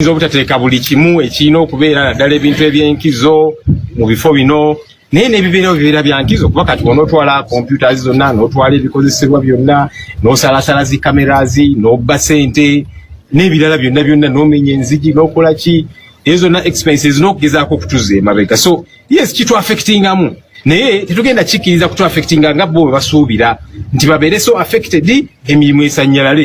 tuyinza obutateeka buli kimu ekirina okubeera naddala ebintu ebyenkizo mu bifo bino naye nebibeerawo bibeera byankizo kuba kati onootwala computers zonna n'otwala ebikozesebwa byonna n'osalasala zi cameras n'obba sente n'ebirala byonna byonna n'omenya enzigi n'okola ki ezo zonna expenses n'okugezaako okutuza emabega so yes kitu affectingamu naye tetugenda kikkiriza kutu affectinga nga bo bwe basuubira nti babeere so affected emirimu esanyalale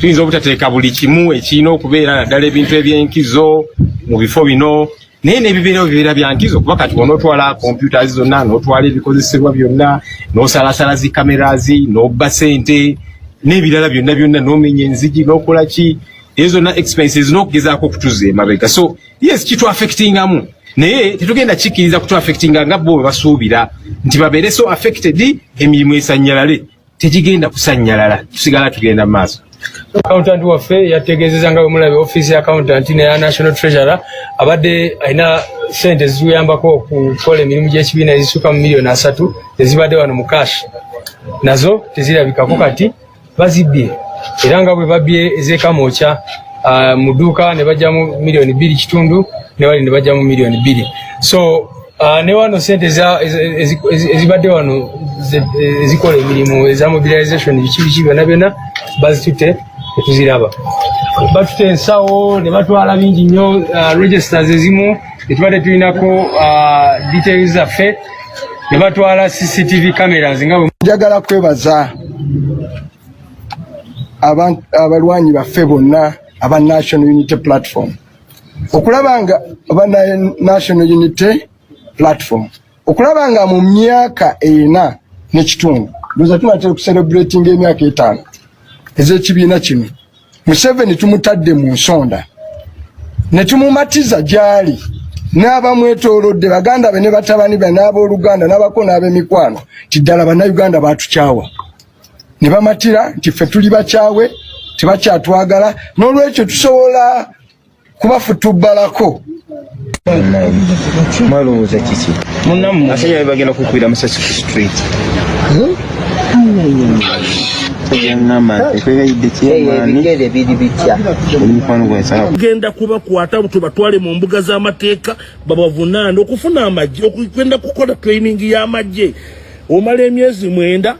tuyinza obutateeka buli kimu ekirina okubeera naddala ebintu ebyenkizo mu bifo bino naye nebibeerawo bibeera byankizo kuba kati bona otwala computers zonna notwala ebikozesebwa byonna nosalasala zi cameras nobba sente n'ebirala byonna byonna nomenya enzigi nokola ki ezo zonna expenses nokugezaako okutuza emabega so yes kitu affectingamu naye tetugenda kikkiriza kutu affectinga nga bo bwe basuubira nti babeere so affected emirimu esanyalale tegigenda kusanyalala tusigala tugenda maaso accountant waffe yategeezeza nga bwemulabe office ya accountant neya national treasurer abadde alina sente ezituyambako okukola emirimu gyekibiina ezisuka mu miliyoni asatu ezibadde wano mu cash nazo tezirabikako kati bazibbye era nga bwe babbye ezekamokya uh, mu dduuka ne bajjamu miliyoni bbiri kitundu ne bali ne bajjamu miliyoni bbiri so Ah, ne wano sente ezibadde wano ezikola emirimu eza mobilization bikibiki byona byona bazitute etuziraba batute ensawo nebatwala bingi nnyo ah, registers ezimu etubadde tulinako ah, details zaffe nebatwala cctv cameras nga njagala kwebaza abalwanyi baffe bonna aba national unity platform okulaba nga oba national unity platform okulaba nga mu myaka ena nekitundu ndoza tunatera okucelebratinga emyaka etaano ezekibiina kino museveni tumutadde mu nsonda netumumatiza gyali n'abamwetolodde baganda be ne batabani be n'abooluganda n'abako n'abemikwano ti ddala bannayuganda batukyawa ne bamatira nti ffe tuli bakyawe tebakyatwagala n'olwekyo tusobola kubafutubbalako mwalowooza kiki asajja be bagenda kukuira musasi ku street genda kubakwata tubatwale mu mbuga z'amateeka babavunaana okufuna amagye okugenda kukola training y'amagye omala emyezi mwenda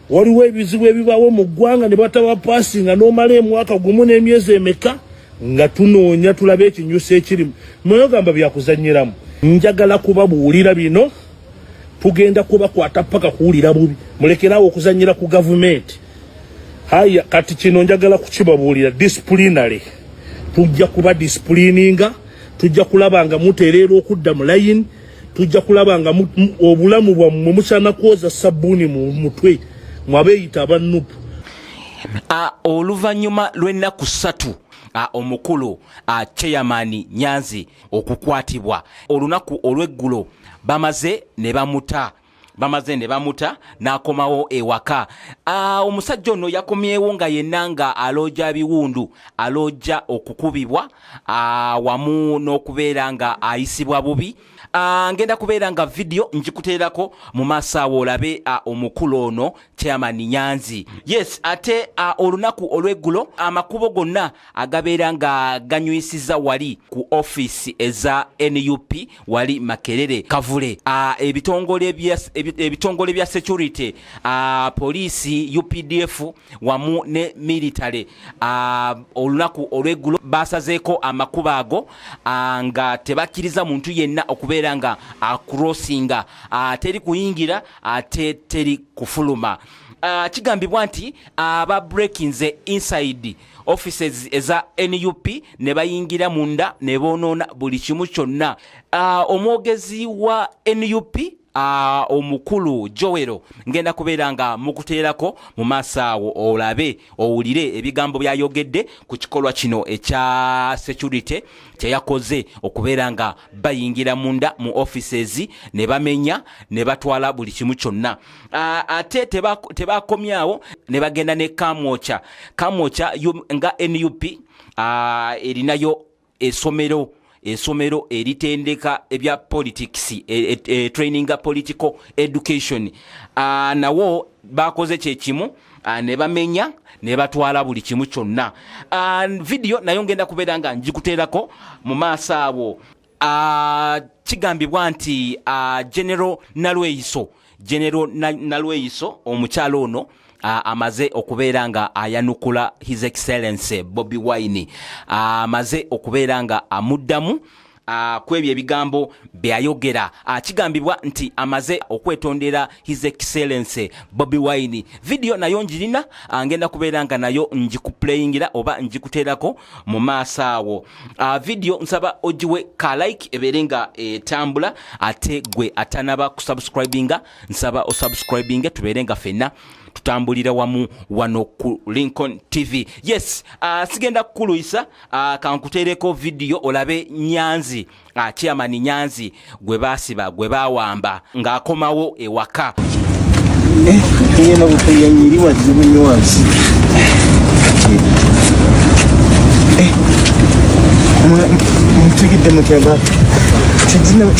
waliwo ebizibu ebibaawo mu ggwanga ne bataba paasinga n'omala emwaka gumu n'emyezi emeka nga tunoonya tulabe ekinyusi ekirimu mweyogamba byakuzanyiramu njagala kubabuulira bino tugenda kubakwata paka kuwulira bubi mulekeraawo okuzanyira ku gavumenti haya kati kino njagala kukibabuulira disiplinary tujja kuba disipulininga tujja kulaba nga mutereera okudda mu layini tujja kulaba nga obulamu bwammwe musaana kwoza sabbuuni mu mutwe mwabeeyita aba nupu oluvannyuma lw'ennaku ssatu omukulu chairman nyanzi okukwatibwa olunaku olw'eggulo bamaze ne bamuta bamaze ne bamuta n'akomawo ewaka ah, omusajja ono yakomyewo nga yenna nga alooja biwundu alooja okukubibwa ah, wamu n'okubeera nga ayisibwa bubi ah, ngenda kubeera nga vidiyo njikuteerako mu maaso awo olabe omukulu ono chairman nyanzi yes ate uh, olunaku olweggulo amakubo gonna agabeera nga ganywisiza wali ku office eza nup wali makerere kavule uh, ebitongole bya ebitongole bya security uh, poliisi updf wamu ne military uh, olunaku olweggulo basazeeko amakubo ago uh, nga tebakkiriza muntu yenna okubeera nga acrossinga uh, teri kuyingira ate teri kufuluma uh, kigambibwa nti aba uh, breakinze inside offices eza nup ne bayingira munda ne boonoona buli kimu kyonna uh, omwogezi wa nup Uh, omukulu jowero ngenda kubeera nga mukuteerako mu maaso awo olabe owulire ebigambo byayogedde ku kikolwa kino ekya security kyeyakoze okubeera nga bayingira munda mu offices ne bamenya ne batwala buli kimu kyonna ate tebakomyawo ne bagenda ne kamwoca kamwoca nga nup erinayo esomero esomero eritendeka ebya politics e, e, e, training political education nawo bakoze kyekimu Ah, ne bamenya ne batwala buli kimu kyonna ah, vidiyo nayo ngenda kubeera nga njikuteerako mu maaso awo ah, kigambibwa nti genero nalweyiso genero nalweyiso omukyalo ono amaze okubeera nga ayanukula his excellency bobi wine amaze okubeera nga amuddamu Ah, kwebyo ebigambo byayogera akigambibwa ah, nti amaze okwetondera his excellence bobi wine vidiyo nayo njirina ah, ngenda kubeera nga nayo njikuplayingira oba njikuteerako mu maaso awo vidiyo nsaba ogiwe ka like ebeere nga etambula ate gwe atanaba kusubscribinga nsaba osubscribinge tubeere nga fenna tutambulira wamu wano ku lincoln tv yes sigenda kukuluyisa Ah, kankuteereko vidiyo olabe nyanzi ah, chairman nyanzi gwe baasiba gwe bawamba ng'akomawo ewaka eh, mutugidde eh, muteba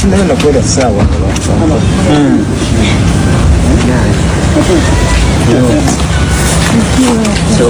tinaba nakwera saawa hmm. So,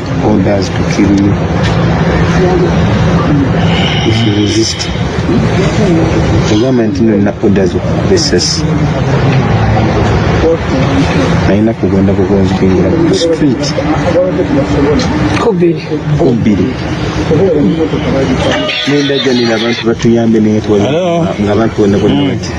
orders to kill you if you resist egamba nti no nina orders okukuba essasi nalina kugenda bugonzi kwingira ku street kubiri kubiri nenda janira abantu batuyambe naye nga abantu bonna bonna bati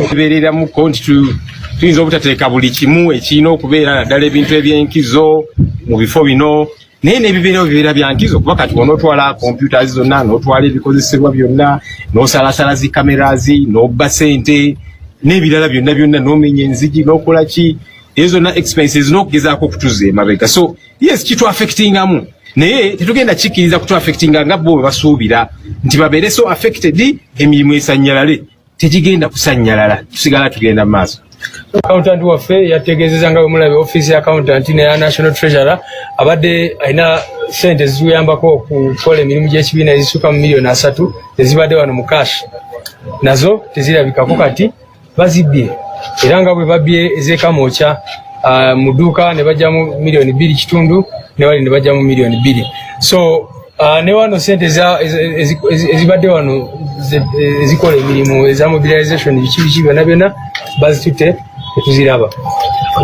kibeereramuko nti tuyinza obutateeka buli kimu ekirina okubeera naddala ebintu ebyenkizo mu bifo bino naye nebibeerawo bibeera byankizo kuba kati onootwala computers zonna nootwala ebikozesebwa byonna nosalasala zi cameras nobba sente n'ebirala byonna byonna nomenya enzigi nokola ki ezo zonna expenses nokugezaako okutuza emabega so yes kitu affecting amu naye tetugenda kikiriza kutu affecting nga bo basuubira nti babere so affected emirimu esanyalale tegigenda kusanyalala tusigala tugenda maaso accountant waffe yategezeza nga bwemulabe office ya accountant neya national treasurer abadde alina sente ziziyambako okukola emirimu gyekibiina ezisuka mu miliyoni asatu ezibadde wano mu cash nazo tezirabikako kati bazibbye era nga bwe babbye ez'ekamwokya ah, mu dduuka ne bajjamu miliyoni bbiri kitundu ne wali ne bajjamu miliyoni bbiri so ah, ne wano sente ezibadde wano ezikola emirimu eza mobilization biki biki byona byona bazitutte tetuziraba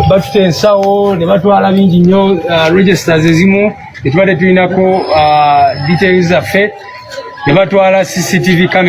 batuta ensawo ne batwala bingi nnyo ah, registers ezimu tetubadde tulinako details zaffe ne batwala cctv camera